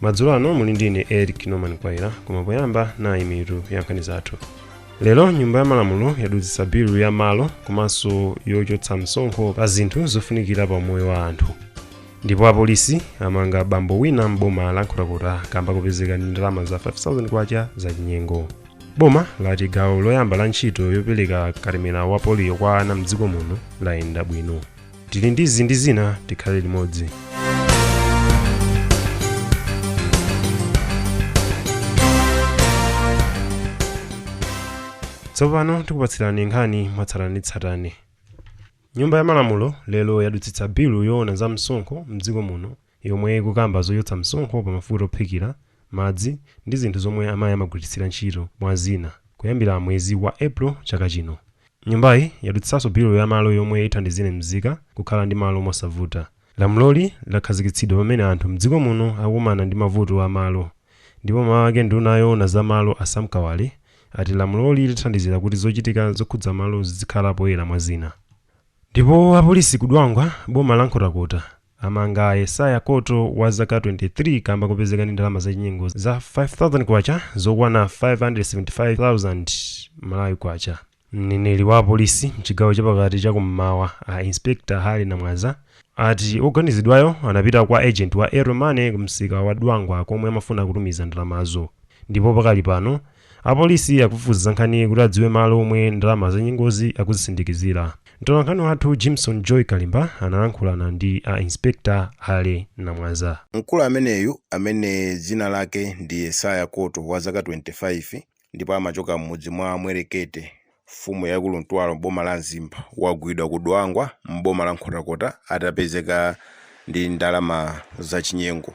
madzulo ano muli ndi ine eric norman kwaira koma poyamba nayi mitu ya nkhani zathu lero nyumba ya malamulo yadutsitsa bilu ya malo komanso yochotsa msonkho pa zinthu zofunikira pa umoyo wa anthu ndipo apolisi amanga bambo wina m'boma la nkhotakota kamba kopezeka ndi ndalama za 5000 kwacha za chinyengo boma lati gawo loyamba la ntchito yopereka katemera wa poliyo kwa ana mdziko muno layenda bwino tili ndi izi ndi zina tikhale limodzi tsopano tikupatsirani nkhani mwatsatanetsatane nyumba ya malamulo lero yadutsitsa bilu yoona za msonkho mdziko muno yomwe ikukamba zochotsa msonkho pa mafuta ophikira madzi ndi zinthu zomwe amayi amagwiritsira ntchito mwa zina kuyambira mwezi wa April chaka chino. Nyumbayi yadutsitsanso bilu ya malo yomwe ithandizire mzika kukhala ndi malo mosavuta. Lamuloli lakhazikitsidwa pamene anthu m'dziko muno akukumana ndi mavuto a malo ndipo mmawu ake nduna yoona za malo a Sam Kawale ati lamuloli lithandizira kuti zochitika zokhudza malo zidzikhala poyera mwa zina. Ndipo apolisi ku Dwangwa m'boma la Nkhotakota Amanga Yesaya Koto wa zaka 23 kamba kopezeka ndi ndalama zachinyengo za 5000 kwacha zokwana 575,000 Malawi kwacha. Mneneri wa apolisi mchigawo chapakati cha kummawa a Inspector Harry Namwaza ati oganizidwayo anapita kwa agent wa Airtel Money kumsika wa Dwangwa komwe amafuna kutumiza ndalamazo ndipo pakali pano Apolisi akufufuza za nkhaniyi kuti adziwe malo omwe ndalama zachinyengozi akuzisindikizira. Mtolankhani wathu Jimson Joy Kalimba analankhulana ndi a Inspector Harry Namwaza. Mkulu ameneyu amene dzina lake ndi Yesaya Koto wa zaka 25 ndipo amachoka m'mudzi mwa Mwerekete Mfumu yaikulu Ntwalo m'boma la Mzimba wagwidwa ku Dwangwa m'boma la Nkhotakota atapezeka ndi ndalama zachinyengo.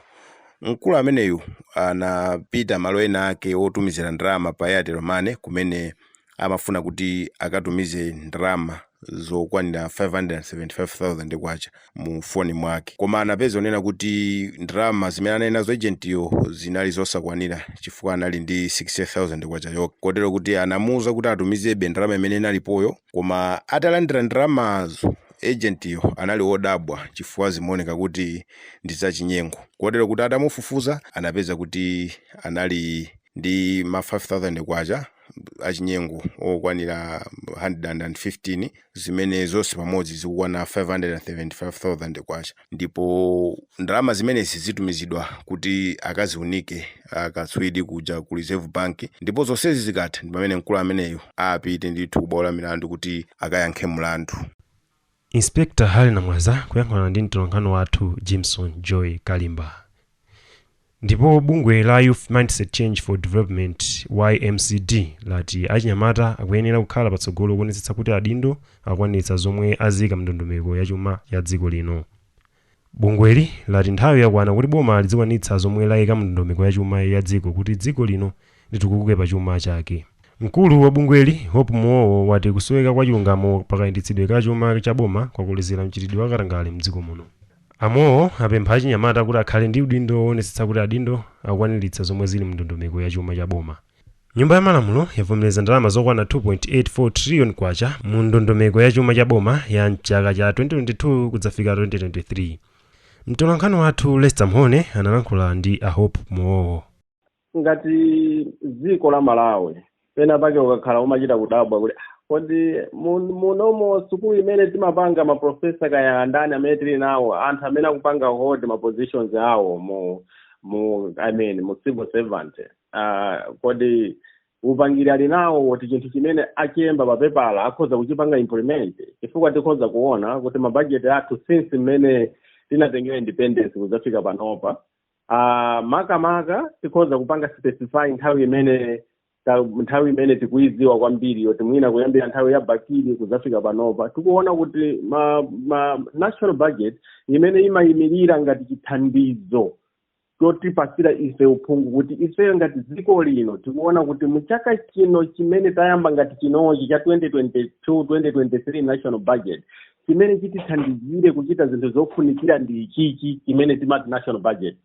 Mkulu ameneyu anapita malo ena ake otumizira ndalama pa Airtel Money kumene amafuna kuti akatumize ndalama zokwanira K575,000. mu foni mwake. Koma anapeza kunena kuti ndalama zimene anali nazo ejentiyo zinali zosakwanira chifukwa anali ndi K60,000 yokha. Kotero kuti anamuuza kuti atumizebe ndalama imene inalipoyo. Koma atalandira ndalamazo, ejentiyo anali wodabwa chifukwa zimaoneka kuti ndi zachinyengo. Kotero kuti atamufufuza anapeza kuti anali ndi ma K5,000. achinyengo okwanira 115 zimene zonse pamodzi zikukwana 575,000 kwacha ndipo ndalama zimenezi zitumizidwa kuti akaziunike akatswiri kuja ku Reserve Bank ndipo zonsezi zikatha ndi pamene mkulu ameneyu apite ndithu ku bwalo la milandu kuti akayankhe mlandu. Inspector Harry Namwaza kuyankhulana ndi mtolankhani wathu Jimson Joy Kalimba. Ndipo bungwe la Youth Mindset Change for Development YMCD lati achinyamata akuyenera kukhala patsogolo kuonetsetsa kuti adindo akwaniritsa zomwe aika mndondomeko yachuma ya dziko lino. Bungweli lati nthawi yakwana kuti boma lizikwanitsa zomwe layika mundondomeko ya chuma ya dziko kuti dziko lino litukuke pa chuma chake. Mkulu wa bungweli, Hope Muwowo wati kusoweka kwa chilungamo pa kayendetsedwe ka chuma cha boma kwakolezera mchitidwe wa katangale mdziko muno. A Muwowo apempha achinyamata kuti akhale ndi udindo woonetsetsa kuti adindo akukwaniritsa zomwe zili mundondomeko ya chuma cha boma. Nyumba ya Malamulo yavomereza ndalama zokwana K2.84 trillion mu ndondomeko ya chuma cha boma ya m'chaka cha 2022 kudzafika 2023. Mtolankhani wathu Lester Mhone analankhula ndi a Hope Muwowo. ngati dziko la malawi pena pake ukakhala umachita kudabwa kuti "Ah, kodi mun- munomo sukulu imene timapanga maprofesa kaya andani amene tili nawo anthu amene akupanga hold ma positions awo mu mu i mean mu civil servant uh, kodi upangiri ali nawo woti chinthu chimene achemba papepala akhoza kuchipanga implement chifukwa tikhoza kuona kuti mabajeti athu since mmene tinatengera independence kudzafika panopa uh, makamaka tikhoza kupanga specify nthawi imene ta- nthawi imene tikuyidziwa kwambiri yoti mwina kuyambira nthawi ya bakili kudzafika panopa tikuona kuti ma, ma national budget imene imayimirira ngati chithandizo chotipatsira ife uphungu kuti ifeyo ngati dziko lino tikuona kuti muchaka chino chimene tayamba ngati chinochi cha 2022 2023 national budget chimene chitithandizire kuchita zinthu zofunikira ndi ichichi chimene timati national budget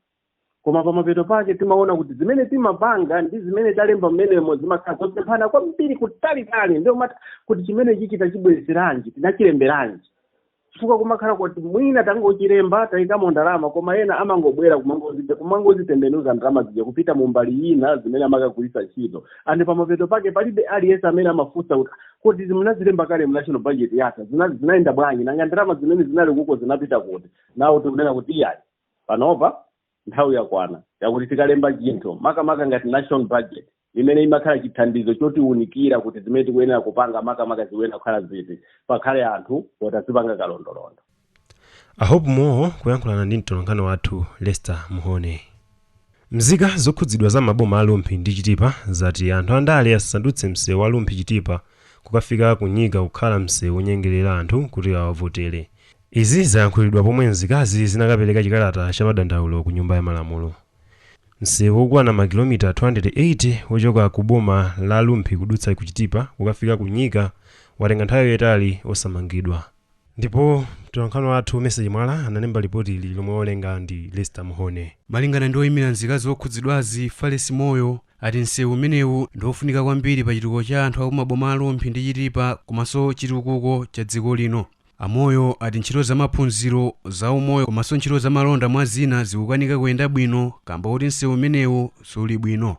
koma pamapeto pake timaona kuti zimene timapanga ndi zimene talemba mmenemo zimakhala zosemphana kwambiri kutalitali ndiye umati kodi chimene ichichi tachibweretseranji tinachilemberanji chifukwa kumakhala kuti mwina tangochilemba tayikamo ndalama koma ena amangobwera kumangozija kumangozitembenuza ndalama zija kupita mu mbali ina zimene amakagwiritsa ntchito and pamapeto pake palibe aliyense amene amafunsa kuti kodi munazilemba kale mu national budget yatha Zina- zinayenda bwanji nanga ndalama zimene zinali kuko zinapita kuti now tikunena kuti iyayi panopa nthawi yakwana yakuti tikalemba chinthu makamaka ngati national budget imene imakhala chithandizo chotiwunikira kuti zimene tikuyenera kupanga makamaka zikuyenera kukhala ziti pakhale anthu oti azipanga kalondolondo a hope muwowo kuyankhulana ndi mtolankhani wathu lester mhone mzika zokhudzidwa za maboma a rumphi ndi chitipa zati anthu andale asandutse msewu wa rumphi chitipa kukafika ku nyika kukhala msewu wonyengerera anthu kuti awavotere Izi zayankhulidwa pomwe nzikazi zinakapereka chikalata cha madandaulo ku nyumba ya malamulo. Msewu wokwana makilomita 280 wochoka ku boma la Rumphi kudutsa ku Chitipa kukafika ku Nyika watenga nthawi yaitali osamangidwa. Ndipo mtolankhani wathu Message Mwala analemba lipotili lomwe awerenga ndi Lester Mhone. Malingana ndi oyimira nzikazi okhudzidwazi, Falesi Moyo, ati nsewu umenewu ndi ofunika kwambiri pa chitukuko cha anthu aku maboma a Rumphi ndi Chitipa komanso chitukuko cha dziko lino. A Moyo ati ntchito za maphunziro, za umoyo komanso ntchito za malonda mwa zina zikukanika kuyenda bwino kamba koti msewu umenewu suli bwino.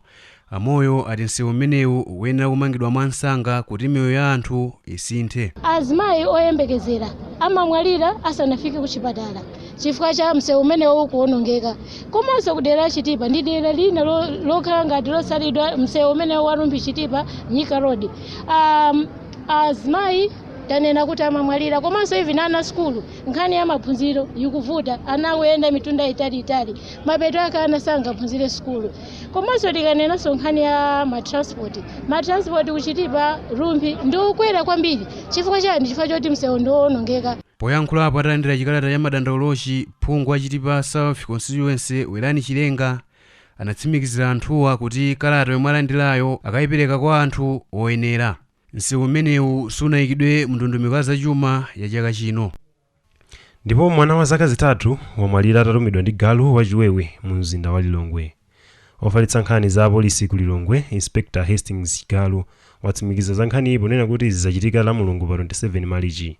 A Moyo ati msewu umenewu ukuyenera kumangidwa mwa nsanga kuti miyoyo ya anthu isinthe. Azimayi oyembekezera amamwalira asanafike ku chipatala chifukwa cha msewu umenewu kuonongeka. Komanso ku dera la Chitipa ndi dera lina lo, lokhala ngati losalidwa msewu umenewu wa Rumphi Chitipa Nyika Road. Um, azimayi tanena kuti amamwalira komanso even ana sukulu nkhani ya maphunziro yikuvuta ana akuyenda mitunda yaitaliitali mapeto ake ana sangaphunzire sukulu komanso tikanenanso nkhani ya matransport matransport kuchitipa rumphi ndi okwera kwambiri chifukwa chani chifukwa choti msewu ndi woonongeka Poyankhulapo atalandira chikalata cha madandaulochi, phungu wa Chitipa South Constituency Werani Chilenga anatsimikizira anthuwa kuti kalata yomwe alandilayo akayipereka kwa anthu oyenera. Nsewu umenewu sunayikidwe mundondomeko ya zachuma ya chaka chino. Ndipo mwana wa zaka zitatu wamwalira atalumidwa ndi galu wachiwewe munzinda wa Lilongwe. Ofalitsa nkhani za apolisi ku Lilongwe, Inspector Hastings Chigalu, watsimikiza za nkhaniyi ponena kuti izi zachitika Lamulungu pa 27 Malichi.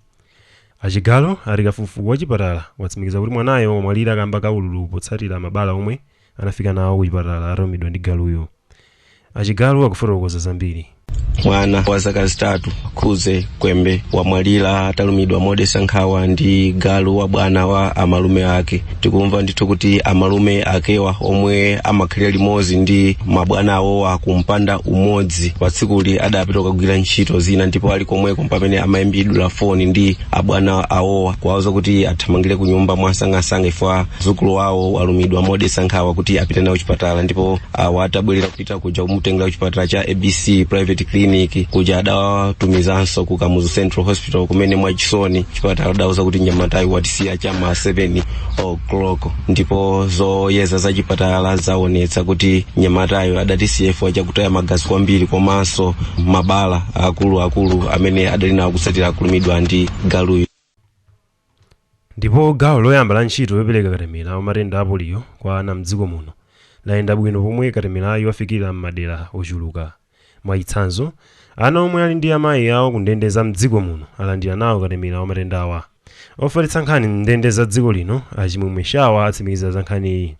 A Chigalu ati kafukufuku wachipatala watsimikiza kuti mwanayo wamwalira kamba ka ululu potsatira mabala omwe anafika nawo kuchipatala atalumidwa ndi galuyo achigalu akufotokoza zambiri mwana wa zaka zitatu khuze kwembe wamwalira atalumidwa modetsa nkhawa ndi galu wa bwana wa amalume ake tikumva ndithu kuti amalume akewa omwe amakhalira limodzi ndi abwana awowa kumpanda umodzi patsikuli adapita kukagwira ntchito zina ndipo ali komweko pamene amayimbidwa foni ndi abwana awowa kuwauza kuti athamangire ku nyumba mwansangansanga ifwa mdzukulu wawo walumidwa modetsa nkhawa kuti apite naye chipatala ndipo awo atabwerera kupita kuja kumutengera kuchipatala cha abc private clinic kuja adawatumizanso ku kamuzu central hospital kumene mwachisoni chipatala adauza kuti nyamatayu watisiya cha ma 7 o'clock ndipo zoyeza za chipatala zaonetsa kuti nyamatayo adatisiya chifukwa chakutaya magazi kwambiri komanso mabala akuluakulu amene adali nawo kutsatira kulumidwa ndi galuyo Ndipo gawo loyamba la ntchito yopereka katemera wa matenda a poliyo kwa ana m'dziko muno layenda bwino pomwe katemerayu wafikira m'madera ochuluka. Mwachitsanzo, ana omwe ali ndi amayi awo ku ndende za m'dziko muno alandira nawo katemera wa matendawa. Ofalitsa nkhani m'ndende za dziko lino a Chimwemwe Shawa atsimikiza za nkhaniyi.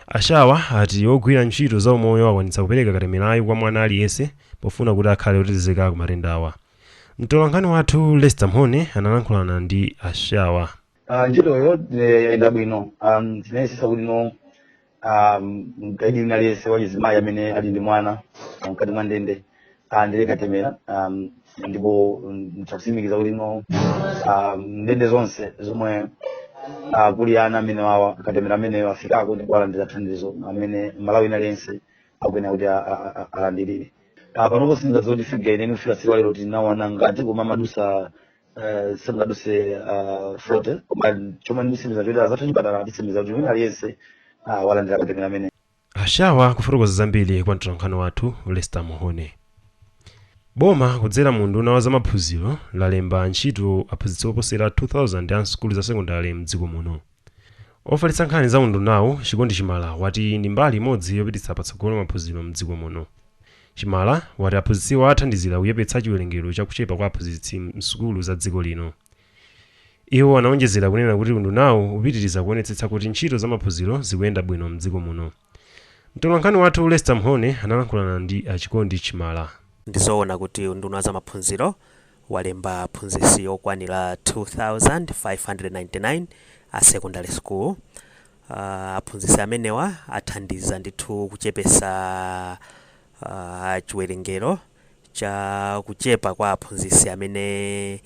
A Shawa ati ogwira ntchito za umoyo akwanitsa kupereka katemerayu kwa mwana aliyense pofuna kuti akhale otetezeka ku matendawa. Mtolankhani wathu Lester Mhone analankhulana ndi a Shawa. Ah, ntchitoyo eh, yayenda bwino um, tinayesesa kuti no um, mkaidi wina aliyense wachizimayi amene ali ndi mwana ah, mkati mwa ndende alandire katemera um, ndipo mm, nditakusimikizani kuti no um, ndende zonse zomwe ah, kuli ana amenewa a katemera amenewo afikako ndipo alandira thandizo amene Mmalawi wina aliyense akuyenera kuti a- a- a- alandirire panopo sindingati figa yeniyeni kufika tsiku la lero tinawona ngati koma amadutsa eh, sangaduse ah, 40 koma chomwe nditsimikize n'choti anzathu a chipatala atsimikiza kuti wina aliyense ah, walandira katemera ameneyu a Shawa kufotokoza zambiri kwa mtolankhani wathu lester Mhone boma kudzera mu unduna wa zamaphunziro lalemba ntchito aphunzitsi oposera 2000 a sukulu za sekondale mdziko muno Ofalitsa nkhani za undunawu, Chikondi Chimala, wati ndi mbali imodzi yopititsa patsogolo maphunziro m'dziko muno. Chimala wati aphunzitsiwa athandizira kuchepetsa chiwerengero cha kuchepa kwa aphunzitsi m'sukulu za dziko lino. Iwo anaonjezera kunena kuti undunawu upitiriza kuonetsetsa kuti ntchito za maphunziro zikuyenda bwino m'dziko muno. Mtolankhani wathu Lester Mhone analankhulana ndi a Chikondi Chimala. Ndizowona kuti unduna wa zamaphunziro walemba aphunzitsi okwanira 2599 a secondary school. Aphunzitsi amenewa athandiza ndithu kuchepetsa chiwerengero cha kuchepa kwa aphunzitsi amene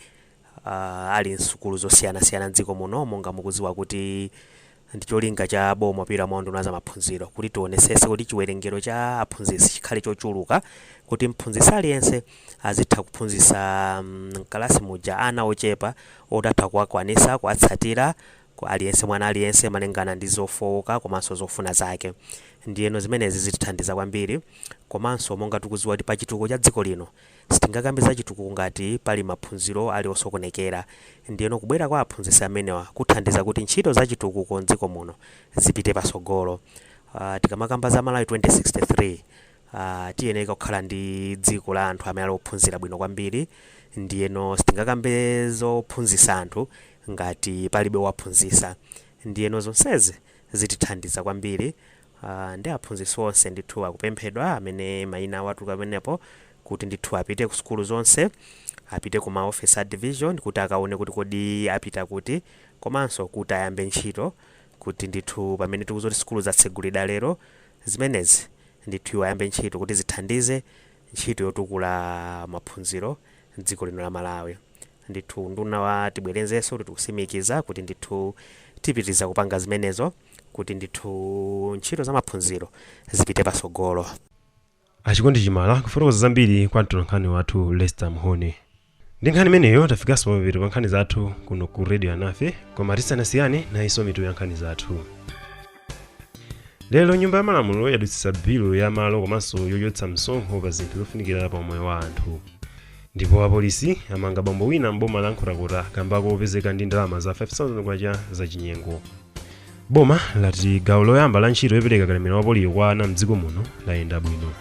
ali m'sukulu zosiyanasiyana m'dziko muno. Monga mukudziwa kuti ndi cholinga cha boma kupitira mwa unduna wa zamaphunziro kuti tionesese kuti chiwerengero cha aphunzitsi chikhale chochuluka kuti mphunzitsi aliyense azitha kuphunzitsa mkalasi muja ana ochepa oti atha kuwakwanitsa, kuwatsatira aliyense mwana aliyense malingana ndi zofooka komanso zofuna zake ndiyeno zimenezi zitithandiza kwambiri komanso monga tikudziwa kuti pachitukuko cha dziko lino Sitingakambe za chitukuko ngati pali maphunziro ali osokonekera. Ndiyeno kubwera kwa aphunzitsi amenewa kuthandiza kuti ntchito za chitukuko m'dziko muno zipite patsogolo. Tikamakamba za Malawi 2063, tiyeneka kukhala ndi dziko la anthu amene ali ophunzira bwino kwambiri. Ndiyeno sitingakambe zophunzitsa anthu ngati palibe owaphunzitsa. Ndiyeno zonsezi zitithandiza kwambiri Aaa nde aphunzitsi onse ndithu akupemphedwa amene maina awo atuluka pamenepo kuti ndithu apite ku sukulu zonse, apite ku ma office a division kuti akaone kuti kodi apita kuti komanso kuti ayambe ntchito kuti ndithu pamene tikuti sukulu zatsegulida lero zimenezi ndithu iwo ayambe ntchito kuti zithandize ntchito yotukula maphunziro mdziko lino la Malawi. Ndithu unduna wa tibwerenzenso kuti tikutsimikiza kuti ndithu tipitiriza kupanga zimenezo. kuti ndithu ntchito za maphunziro zipite patsogolo. a chikondi chimala kufotokoza zambiri kwa mtolankhani wathu lester mhone ndi nkhani imeneyo tafikanso pamapeto pa nkhani zathu kuno ku radio alinafe koma tisanasiyane nayinso mitu ya nkhani zathu lero nyumba ya malamulo yadutsitsa bilu ya malo komanso yochotsa msonkho pa zinthu zofunikira pa umoyo wa anthu Ndipo apolisi amanga bambo wina m'boma la Nkhotakota kamba kopezeka ndi ndalama za 5,000 kwacha zachinyengo. Boma lati gawo loyamba la ntchito yopereka katemera wa poliyo kwa ana m'dziko muno layenda bwino.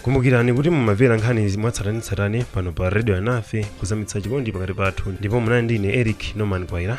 Kumbukirani kuti mumamvera nkhani mwatsatanetsatane pano pa Radio Alinafe kuzamitsa chikondi pakati pathu ndipo munali ndi ine Eric Norman Mkwaira.